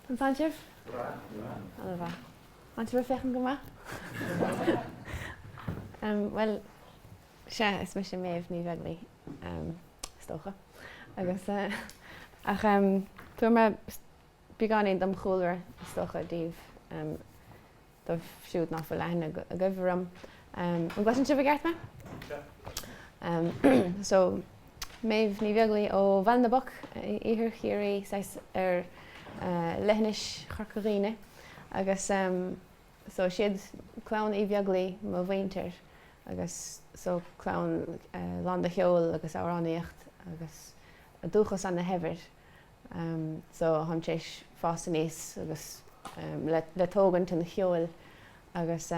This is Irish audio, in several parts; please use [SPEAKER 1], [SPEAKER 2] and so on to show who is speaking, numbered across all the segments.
[SPEAKER 1] An tá sibh? Go breá? Tánn sibh ag féachaint go maith? Bhuel, sea, is mise Méabh Ní Bheaglaoich, is dócha. Agus, ach, tabharfaidh mé beagáinín dem chúlra, is dócha, daoibh. daoibh siúd nach bhfuil aithne agaibh orm, an gcloiseann sibh i gceart mé? So, Méabh Ní Bheaglaoich ó Bhaile na bPoc, Iarthar Chiarraí, saghas ar leithinis Chorca Dhuibhne. Agus so, siad clann Uí Bheaglaoich mo mhuintir, agus so, clann lán de cheol agus amhránaíocht agus dúchas ana shaibhir. so táim tar éis fás aníos agus le tógaint an cheoil agus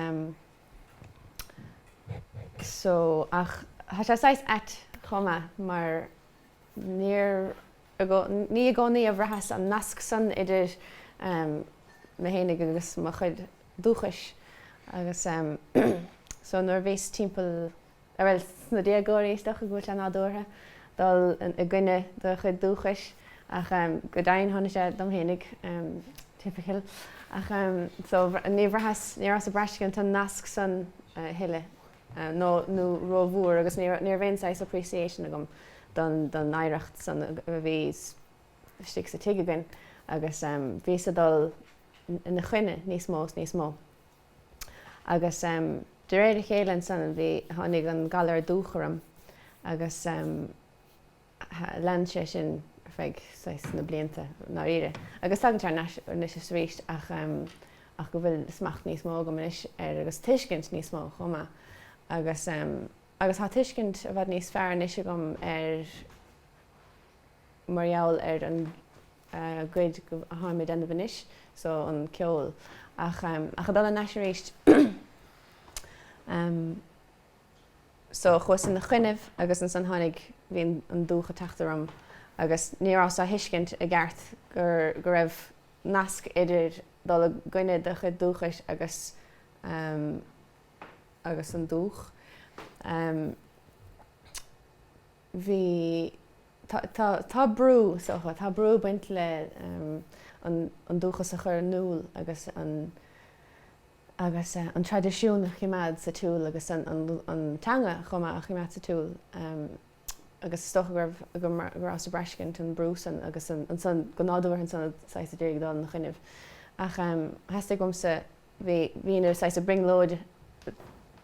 [SPEAKER 1] so ach tá sé saghas ait chomh maith mar níor ní i gcónaí a bhraitheas an nasc san idir mé fhéinig agus mo chuid dúchais agus so nuair a bhíos timpeall bhuel sna déagóirí is dócha go bhfuil sé nádúrtha dul i gcoinne do chuid dúchais ach go deimhin dhein sé dom fhéinig typical ach so ní bhraitheas ní rabhas ag braistint an nasc san a thuilleadh nó nó ró-mhór agus ní raibh ní raibh aon saghas appreciation agam don don oidhreacht san a bhí istigh sa tigh againn agus bhíos ag dul ina choinne níos mó is níos mó. Agus de réir a chéile ansan bhí, tháinig an galar dubhach orm agus lean sé sin ar feadh, saghas, na blianta i ndáiríre. Agus tagann sé thar n-ais anois is aríst ach, ach go bhfuil smacht níos mó agam anois air agus tuiscint níos mó chomh maith. Agus, agus tá tuiscint i bhfad níos fearr anois agam ar, mar gheall ar an gcaoi a tháim ag déanamh anois so, an ceol. Ach ag dul thar n-ais aríst ehm so chuas ina choinnibh agus ansan tháinig, bhí an dubhach ag teacht orm agus ní rabhas á thuiscint i gceart gur, go raibh nasc idir dul i gcoinne do chuid dúchais agus ehm agus an dubhach. Bhí, tá, tá, tá brú, is dócha, tá brú ag baint le an, an dúchas a chur in iúl agus an, agus an traidisiún a choimeád sa tsiúl agus an, an, an teanga chomh maith a choimeád sa tsiúl. Agus is dócha go raibh, go, go rabhas ag braistint an brú san agus an, ansan, go nádúrtha ansan saghas a d'éirigh dul ina choinnibh. Ach theastaigh uaimse bhí mé saghas ag brionglóid,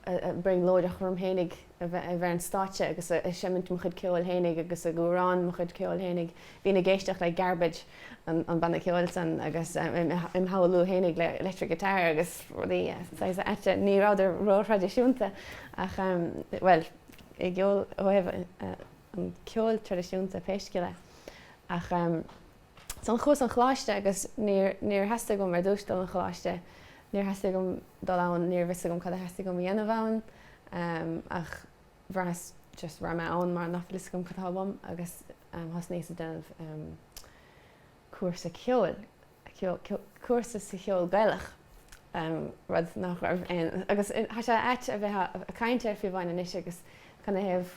[SPEAKER 1] ag brionglóideach orm fhéinig a bheith ar an stáitse agus ag seimint mo chuid ceoil fhéinig agus ag amhrán mo chuid ceoil fhéinig. Bhínn ag éisteacht le Garbage, an banna ceoil san, agus im' shamhlú fhéinig le electric guitar agus rudaí saghas ait. Ní rabhadar ró-thraidisiúnta ach, bhuel, i gceol, ó thaobh an ceoil traidisiúnta pé scéal é. Ach. san chuas an choláiste agus níor níor theastaigh uaim ar dtús dul an choláiste níor theastaigh uaim dul ann níorbh fhios agam cad a theastaigh uaim a dhéanamh ann ach bhraitheas just raghaidh mé ann mar nach fhios agam cad atá uaim agus thosnaíos ag déanamh cúrsa ceoil cúrsa sa cheol gaelach rud nach raibh aon agus tá sé ait a bheith ag caint air fiú amháin anois agus canathaobh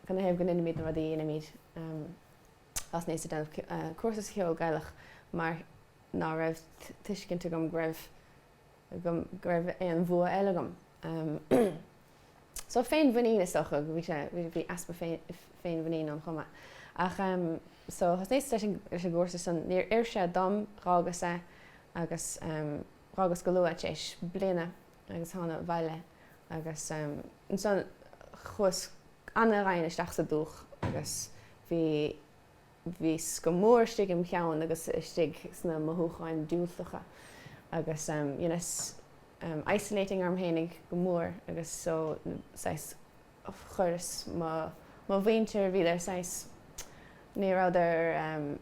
[SPEAKER 1] canathaobh go ndeinimid na rudaí a dheinimid Thosnaíos ag déanamh cúrsa sa cheol Gaelach mar ná raibh tuiscint agam go raibh go raibh aon bhua eile agam. So féinmhuinín is dócha, bhí sé, bhí easpa féinmhuinín ann chomh maith. Ach so thosnaíos leis an leis an gcúrsa san, níor oir sé dom, dh'fhágas é agus dh'fhágas go luath, tar éis bliana agus thána abhaile agus ansan chuas ana-dhoimhin isteach sa dúch agus bhí bhíos go mór istigh im cheann agus istigh sna mothúcháin diúltacha agus dheineas isolating orm fhéinig go mór agus so saghas chuireas mo mo mhuintir bhíodar saghas ní rabhadar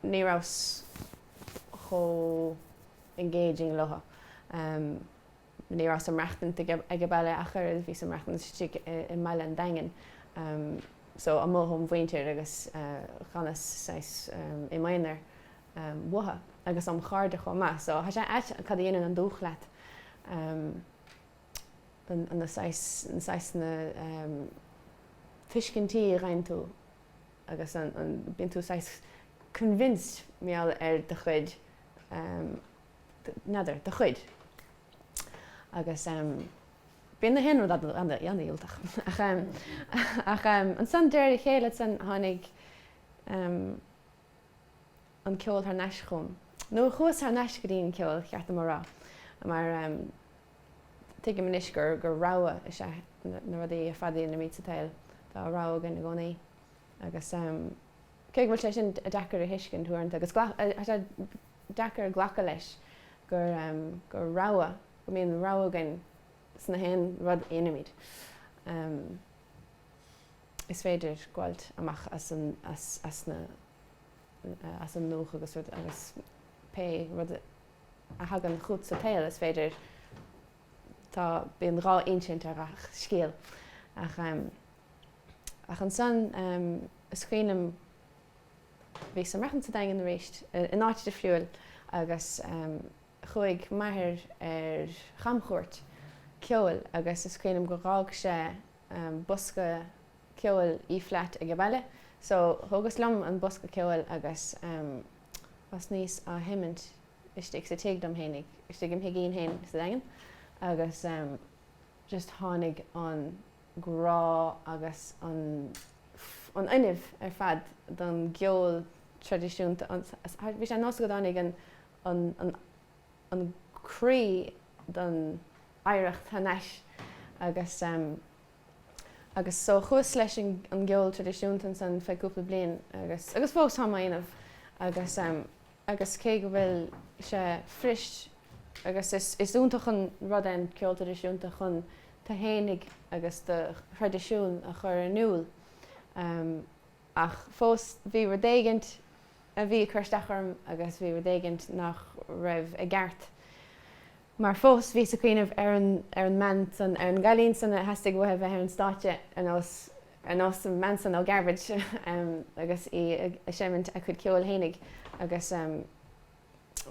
[SPEAKER 1] ní rabhas chomh engaging leo. Ní rabhas ag maireachtaint aige baile ach oiread, bhíos ag maireachtaint istigh i mbaile an Daingin, so amuigh ón mhuintir agus dh'fhanas saghas i m'aonar uathu agus óm chairde chomh maith, so tá sé ait cad a dhéanann an dúch leat, na saghas, na saghas na tuiscintí a dh'fhaigheann tú agus an, bíonn tú saghas convinced mar gheall ar do chuid N'fheadar. Do chuid. Agus bíonn na haon rud an-dhiúltach. Ach ansan, de réir a chéile san, tháinig an ceol thar n-ais chugam. Nó chuas thar n-ais go dtí an ceol, cheart dom a rá. Mar tuigim anois gur rogha is ea na rudaí ar fad a dheinimid sa tsaol. Tá rogha againn i gcónaí. Agus. Cé go bhfuil sé sin deacair a thuiscint uaireanta, agus tá sé deacair glacadh leis gur rogha, go mbíonn rogha againn sna haon rud a dhéanaimid, is féidir gabháilt amach as an ndúch agus pé rud a thagann chugat sa tsaol, is féidir, tá, bíonn dhá insint ar ghach scéal. Ach. Ach ansan, is cuimhin liom, bhíos ag maireachtaint sa Daingean arís, in áit difriúil, agus chuaigh m'athair ar chamchuairt ceoil agus is cuimhin liom gur dh'fhág sé bosca ceoil E flat age baile, so thógas liom an bosca ceoil agus thosnaíos á sheimint istigh sa tigh dom fhéinig, istigh im' thigín fhéin sa Daingean, agus just tháinig an. grá agus an an fuinneamh ar fad don gceol traidisiúnta an bhí sé ar nós go dtáinig an an an an croí don oidhreacht thar nais agus agus so chuas leis an gceol traidisiúnta ansan feadh cúpla bliain agus agus fós táim á dhéanamh agus agus cé go bhfuil sé frist agus is is iontach an rud é an ceol traidisiúnta chun tú fhéinig agus do thraidisiún a chur in iúl ach fós bhí rud éigint a bhí ag cur isteach orm agus bhí rud éigint nach raibh i gceart. mar fós bhíos ag cuimhneamh ar an ar an mbean san, ar an gcailín san a theastaigh uaithi bheith ar an stáitse ar nós ar nós an bhean san ó Garbage agus í ag seimint a cuid ceoil fhéinig agus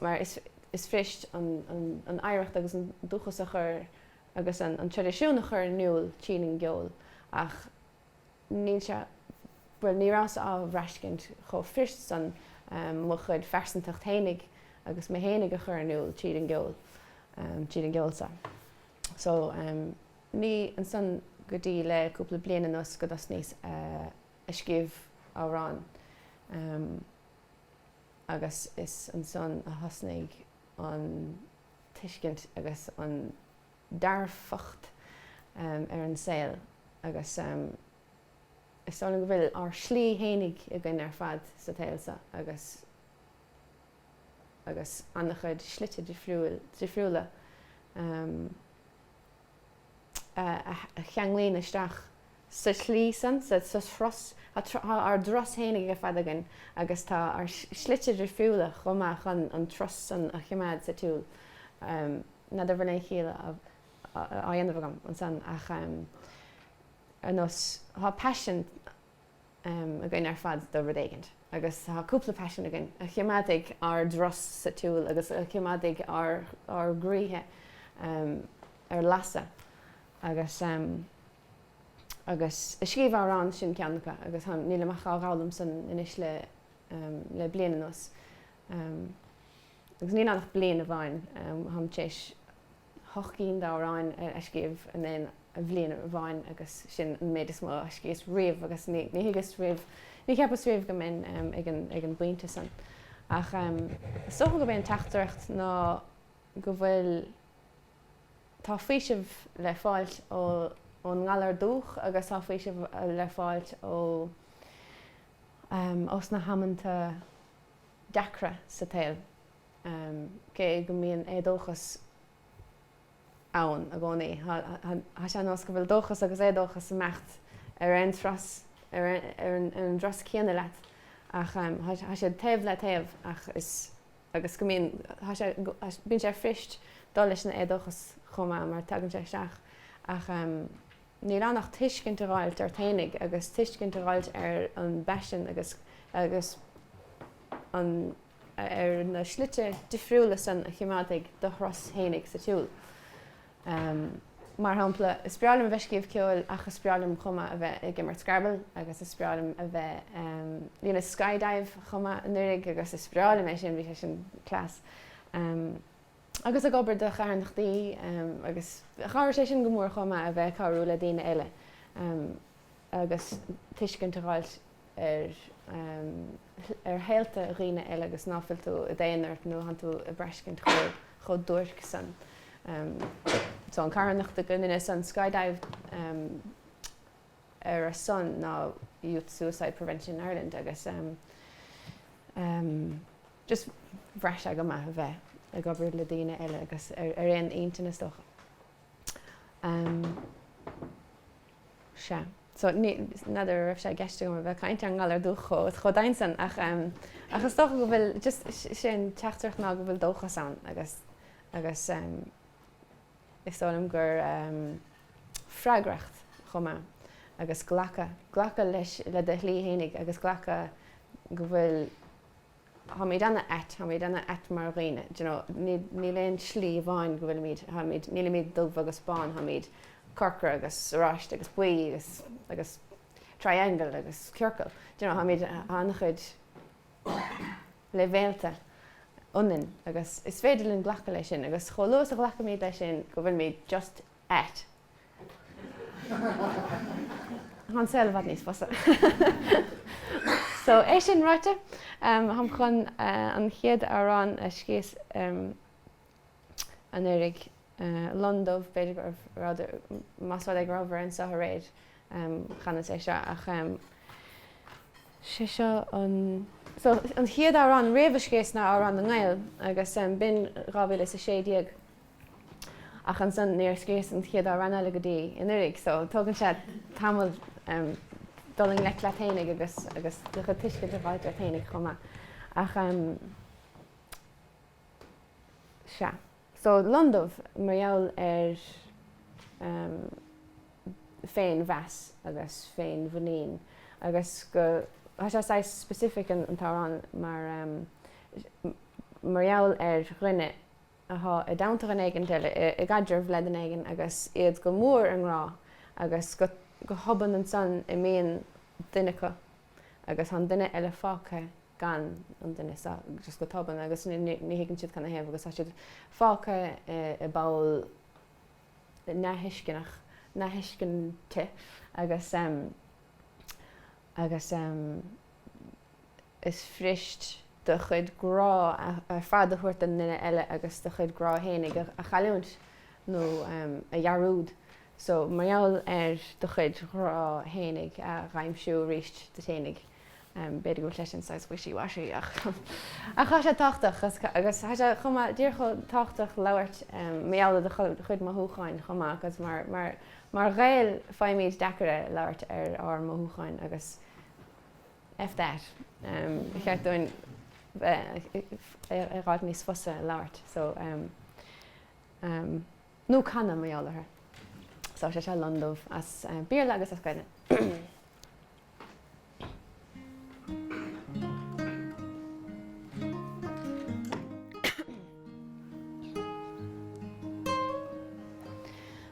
[SPEAKER 1] mar is is frist an an an oidhreacht agus an dúchas a chur agus an an traidisiún a chur in iúl tríd an gceol ach níl sé, bhuel ní rabhas á bhraistint chomh frist san, mo chuid pearsantacht fhéinig agus mé fhéinig a chur in iúl tríd an gceol, tríd an gceol san. So, ní ansan go dtí le cúpla bliain anuas go dtosnaíos ag scríobh amhrán agus is ansan a thosnaigh an tuiscint agus an, dearfacht ar an saol agus is dóigh liom go bhfuil ár slí fhéinig againn ar fad sa tsaol seo agus agus an-chuid slite difriúla a cheanglaíonn isteach sa tslí san, sa tslí atá ár dturas féinig ar fad againn agus tá ár slite difriúla chomh maith chun an turas san a choimeád sa tsiúl. N'fheadar an bhfuil aon chiall á dhéanamh agam ansan ach ar nós tá paisean againn ar fad do rud éigint agus tá cúpla paisean againn a choimeádfaidh ár dturas sa tsiúl agus a choimeádfaidh ár gcroíthe ar lasadh agus. agus ag scríobh amhrán, sin ceann acu, agus nílim ach á dh'fhoghlaim san anois le bliain anuas, agus níl ann ach bliain amháin, táim tar éis hocht gcinn d'amhráin a scríobh in aon bhliain amháin, agus sin an méid is mó a scríos riamh, agus ní thuigeas riamh, ní cheapas riamh go mbeinn ag an bpointe san. Ach is dócha gurb é an teachtaireacht ná go bhfuil. Tá faoiseamh le fáilt ón ngalar dubhach agus tá faoiseamh le fáilt ó sna hamanta deacra sa tsaol, cé go mbíonn éadóchas ann i gcónaí. Tá sé nós go bhfuil dóchas agus éadóchas ag imeacht ar aon turas, ar an dturas céanna leat, ach tá siad taobh le taobh ach is. agus go mbíonn, tá sé, bíonn sé fuirist dul leis an éadóchas chomh maith mar tagann sé isteach ach níl ann ach tuiscint a dh'fháilt ort féinig agus tuiscint a dh'fháilt ar an bpaisean agus agus an ar na slite difriúla san a chimeádfaidh do thuras féinig sa tsiúl. Ahem. Mar shampla, is breá liom a bheith ag scríobh ceoil ach is breá liom chomh maith a bheith ag imirt Scrabble agus is breá liom a bheith, ahem, dheineas skydive chomh maith anuiridh agus is breá liom é sin, bhí sé sin class. Ahem. Agus ag obair do charthanachtaí, ahem, agus chabhraigh sé sin go mór chomh maith a bheith ag cabhrú le daoine eile. Ahem. agus tuiscint a dh'fháilt ar ar shaolta dhaoine eile agus ná fuil tú i d'aonar nuair a thánn tú ag braiscint chomh duairc san. So an carthanacht go ndeineas an skydive ar a son ná Youth Suicide Prevention Ireland agus just bhraith sé go maith a bheith ag obair le daoine eile agus ar aon intinn is dócha. Sea. So, ní, n'fheadar an raibh sé i gceist agam a bheith ag caint ar an ngalar dubhach chomh, chomh doimhin san ach ehm, ach is dócha go bhfuil, just, sé an teachtaireacht ná go bhfuil dóchas ann agus, agus ehm, is dóigh liom gur ehm, freagracht chomh maith agus glacadh, glacadh leis, le do shlí fhéinig agus glacadh go bhfuil, táimid ana ait, táimid ana ait mar dhaoine, d'you know, níl, níl aon slí amháin go bhfuilimid, táimid, nílimid dubh agus bán, táimid corcra agus oráiste agus buí agus, agus triangle agus ciorcal, d'you know, táimid ana-chuid leibhéalta ionainn agus is féidir linn glacadh leis sin agus chomh luath is a ghlacaimid leis sin go bhfuilimid just ait. Tá'n saol i bhfad níos fusa. So, é sin ráite, táim chun an chéad amhrán a scríos anuiridh, Lon Dubh, b'fhéidir go, más rud é go rabhabhair anseo aréir, chanas é seo, ach sé seo an, so, an chéad amhrán riamh a scríos ná Amhrán na nGael, agus b'in dhá mhíle is a sé déag. Ach ansan níor scríos an chéad amhrán eile go dtí anuiridh so tógann sé tamall dul i ngleic leat fhéinig agus agus do chuid tuiscint a dh'fháilt ort fhéinig chomh maith. Ach sea. So Lon Dubh mar gheall ar féinmheas agus féinmhuinín agus go tá sé saghas specific an t-amhrán mar mar gheall ar dhuine atá i dteannta dhuine éigin eile, i gcaidreamh le duine éigin agus iad go mór i ngrá agus go hobann ansan imíonn duine acu agus tá an duine eile fágtha gan an duine so just go tobann agus ní thuigeann siad cad 'na thaobh agus tá siad fágtha i bpoll neamhthuisceanach, neamhthuiscinte agus, agus. is fuirist do chuid grá ar fad a thabhairt don duine eile agus do chuid grá fhéinig a chailliúint nó a dhearúd so mar gheall ar do chuid grá fhéinig a dh'aimsiú aríst duit fhéinig. b'fhéidir go bhfuil sé sin saghas wishy washy ach ach thá sé tábhachtach agus thá sé chomh maith díreach chomh tábhachtach labhairt mar gheall ar do chuid mothúcháin chomh maith agus mar mar mar Ghaeil faighimid deacair é labhairt ar ár mothúcháin agus F that. Ba cheart dúinn é a dh'fháilt níos fusa labhairt, so nó canadh mar gheall orthu. So sé seo lon dubh as Béarla agus as Gaelainn.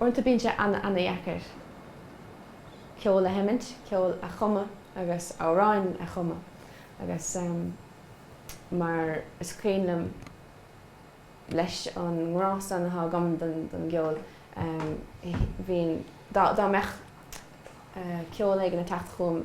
[SPEAKER 1] Uaireanta bíonn sé ana-dheacair ceol a sheimint, ceol a chumadh agus amhráin a chumadh agus mar is cuimhin liom leis an ngrá san atá agam don gceol bhínn, dá mbeadh ceol éigin ag teacht chugam,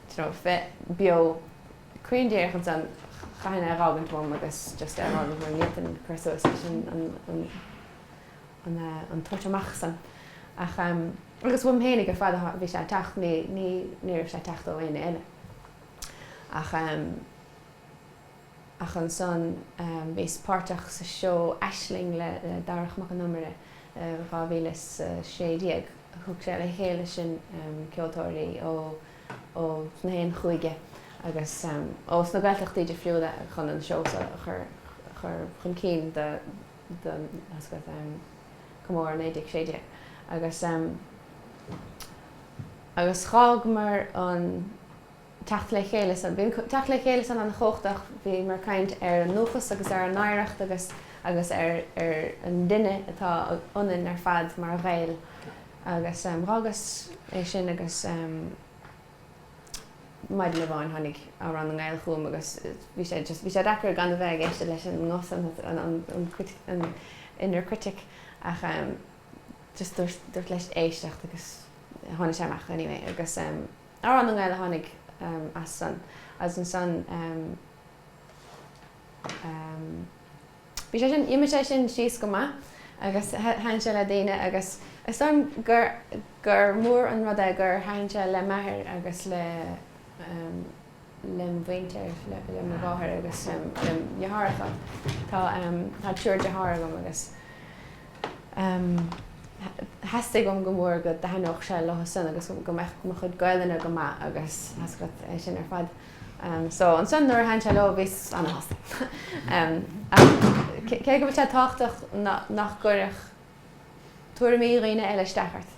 [SPEAKER 1] dó nó bheith beo cruinn díreach ansan chaithfinn é a dh'fhágaint uaim agus just é a dh'fhágaint mar ní fhéadfainn cur suas leis an, an, an, an eh, an tabhairt amach san. Ach em, agus uaim fhéinig ar fad a bhí sé ag teacht, ní, ní, ní raibh sé ag teacht ó éinne eile. Ach em. Ach ansan bhíos páirteach sa seó Aisling le Darach Mac an Iomaire i 2016. Thug sé le chéile sin ceoltóirí ós na haon chúige agus ó sna Gaeltachtaí difriúla chun an seó seo a chur chun cinn do Chomóradh 1916. Agus d'fhágamar an. teacht le chéile san. Bhí an teacht le chéile san an-chumhachtach. Bhíomar ag caint ar an ndúchas agus ar an oidhreacht agus agus ar ar an duine atá ionainn ar fad mar Ghaeil agus dh'fhágas é sin agus maidin amháin tháinig Amhrán na nGael chugam agus bhí sé just, bhí sé deacair gan a bheith ag éisteacht leis an nguth san, an inner critic ach just dúirt, dúirt leis éisteacht agus tháinig sé amach anyway agus. Amhrán na nGael a tháinig as san, as an san ehm bhí sé sin, d'imigh sé sin síos go maith agus thaithin sé le daoine agus is dóigh liom gur mór an rud é gur thaithin sé le m'athair agus le ehm. lem mhuintir, lem mháthair agus lem dheartháireacha. Tá triúr deartháir agam agus theastaigh uaim go mór go dtaitneodh sé leo san agus go mbeadh mo chuid Gaelainne go maith agus theastaigh uait é sin ar fad. So ansan nuair a thaithin sé leo bhíos ana-shásta. Ach cé go bhfuil sé tábhachtach nach gcuirfeadh. tuairimí daoine eile isteach ort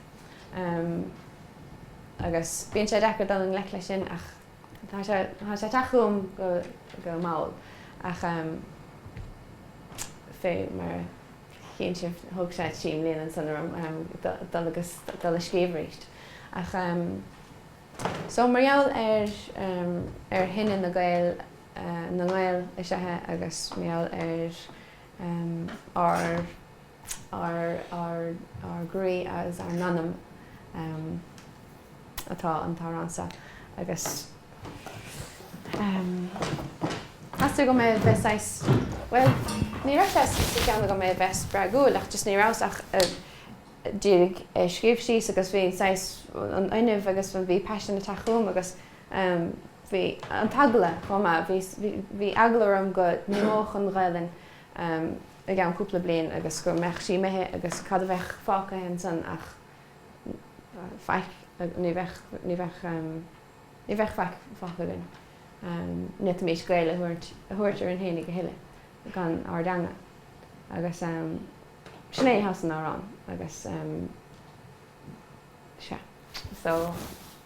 [SPEAKER 1] agus bíonn sé deacair dul i ngleic leis sin ach tá sé tá sé ag teacht chugam go go mall ach fé mar a chíonn sibh thóg sé trí mbliana ansan orm dul agus dul a scríobh arís ach so mar gheall ar ar chine na Gael na nGael is ea agus mar gheall ar ár ár ár ár gcroí agus ár n-anam atá an t-amhrán seo agus meas tú go mbeadh bheith saghas, bhuel ní raibh sé sa cheann agam go mbeadh sé a bheith spreagúil ach just ní rabhas ach díreach a' scríobh síos agus bhí saghas an fuinneamh agus bhí paisean a' teacht chugam agus em bhí an t-eagla chomh maith bhí bhí bhí eagla orm go n-imeodh an ghaolainn em i gceann cúpla bliain agus go mbeadh sí imithe agus cad a bheadh fágtha ansan ach em faic ní bheadh ní bheadh em ní bheadh faic fágtha againn em n'fhéadfaimis Gaeil a thabhairt a thabhairt orainn fhéinig a thuilleadh gan ár dteanga agus em sin é atá san amhrán agus em sea so.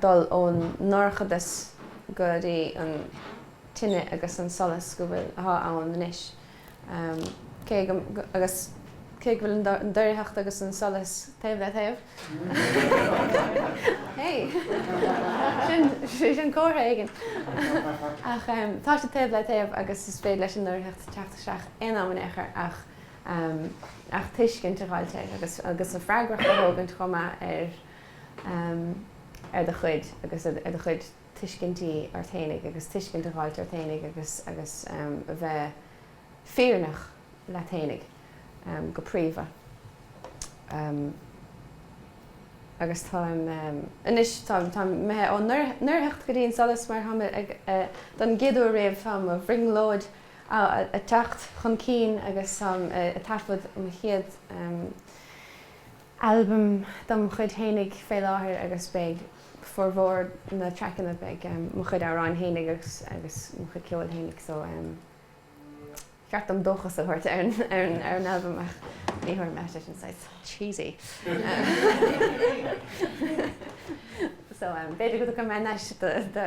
[SPEAKER 1] dul ón ndorchadas go dtí an tine agus an solas go bhfuil, athá ann anois. Cé go, agus cé go bhfuil an doircheacht agus an solas taobh le taobh, hey! Sin, sin comhartha éigin! ach tá siad taobh le taobh agus is féidir leis an ndoircheacht teacht isteach aon am in aon chor ach. um ach tuiscint a dh'fháilt air agus agus an fhreagracht a thógaint chomh maith ar um ar do chuid agus ar do chuid tuiscintí ort fhéinig agus tuiscint a dh'fháilt ort fhéinig agus agus um a bheith fírinneach leat fhéinig um go príomha um agus táim um anois táim táim imithe ón ndoircheacht go dtí an solas mar táim ag eh don gcéad uair riamh tá mo bhrionglóid ag teacht chun cinn agus táim ag taifead mo chéad albam dom chuid fhéinig fé láthair agus beidh formhór na traiceanna beidh mo chuid amhráin fhéinig agus mo chuid ceoil fhéinig so ba cheart dom dóchas a thabhairt ar an albam ach ní thabharfaidh mé tá sé sin saghas cheesy so b'fhéidir go dtugann mé an deis do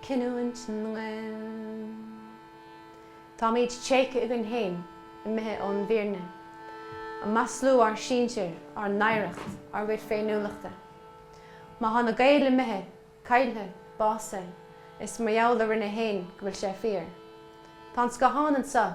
[SPEAKER 1] cinniúint na nGael. Táimid tréigthe againn féin, imithe ón bhfírinne, ag maslú ár sinsir, ár n-oidhreacht, ár gcuid féiniúlachta. Má tá na Gaeil imithe, caillthe, básaithe, is mar gheall orainne féin go bhfuil sé fíor. Tá an scáthán anseo.